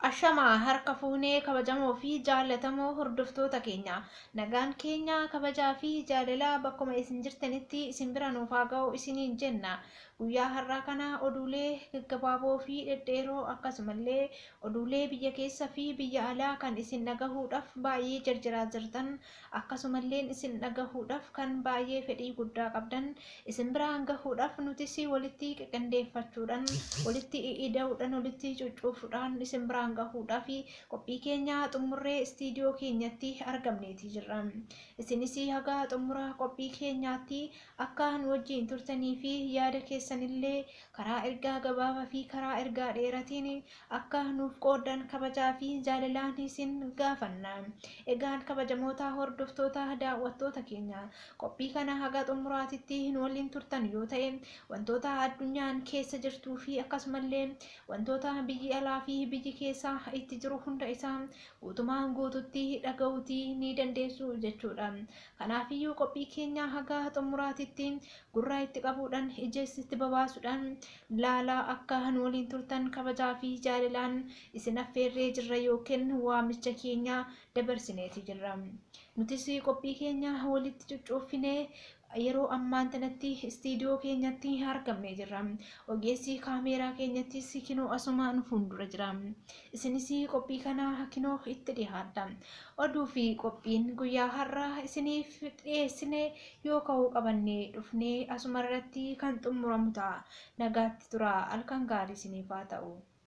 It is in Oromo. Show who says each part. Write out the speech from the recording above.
Speaker 1: Ashamaa harka fuunee kabajamoo fi jaallatamoo hordoftoota keenya nagaan keenya kabajaa fi jaalalaa bakkuma isin jirtanitti isin bira nuuf haa ga'u isiniin jenna guyyaa har'aa kana oduulee gaggabaaboo fi dhedheeroo akkasumallee oduulee biyya keessa fi biyya alaa kan isin dhagahuudhaaf baay'ee jarjaraa jirtan Akkasumalleen isin dhagahuudhaf kan baay'ee fedhii guddaa qabdan isin biraan gahuudhaf nutis walitti qiqindeeffachuudhan, walitti i'ida'udhan, walitti cuccuufudhaan isin biraan gahuudhaf qophii keenya xummurree istiidiyoo keenyatti argamneeti jirra. Isinis haga xummura qophii keenyaatti akka nu wajjiin turtanii fi yaada keessanillee karaa ergaa gabaaba fi karaa ergaa dheeratiin akka nuuf qooddan kabajaa fi jaalalaan isin gaafanna. Egaan kabajamoota hordoftoota daawwattoota keenya qophii kana haga xumuraatitti nu waliin turtan yoo ta'e wantoota addunyaan keessa jirtuu fi akkasumallee wantoota biyyi alaa fi biyyi keessa itti jiru hunda isaa guutumaan guututti dhaga'uutii ni dandeessu jechuudha. Kanaafiyyuu qophii keenya haga xumuraatitti gurra itti qabuudhaan ijees itti babaasuudhaan Laalaa akka nu waliin turtan kabajaa fi jaalilaan isin affeerree jirra ykn waamicha keenya dabarsineeti jirra. Nutis qophii keenya walitti cuccuuffinee yeroo ammaan tanatti istiidiyoo keenyatti argamnee jirra. Ogeessi kaameeraa keenyattis kinoo asuma nu fuundura jira. Isinis qophii kana kinoo itti dhihaadha. Oduu fi qophiin guyyaa har'aa isiniif dhiyeessine Yoo ka'uu qabanne dhufnee asumarratti kan xummuramu ta'a. Nagaatti turaa. Halkan gaarii isiniif haa ta'u.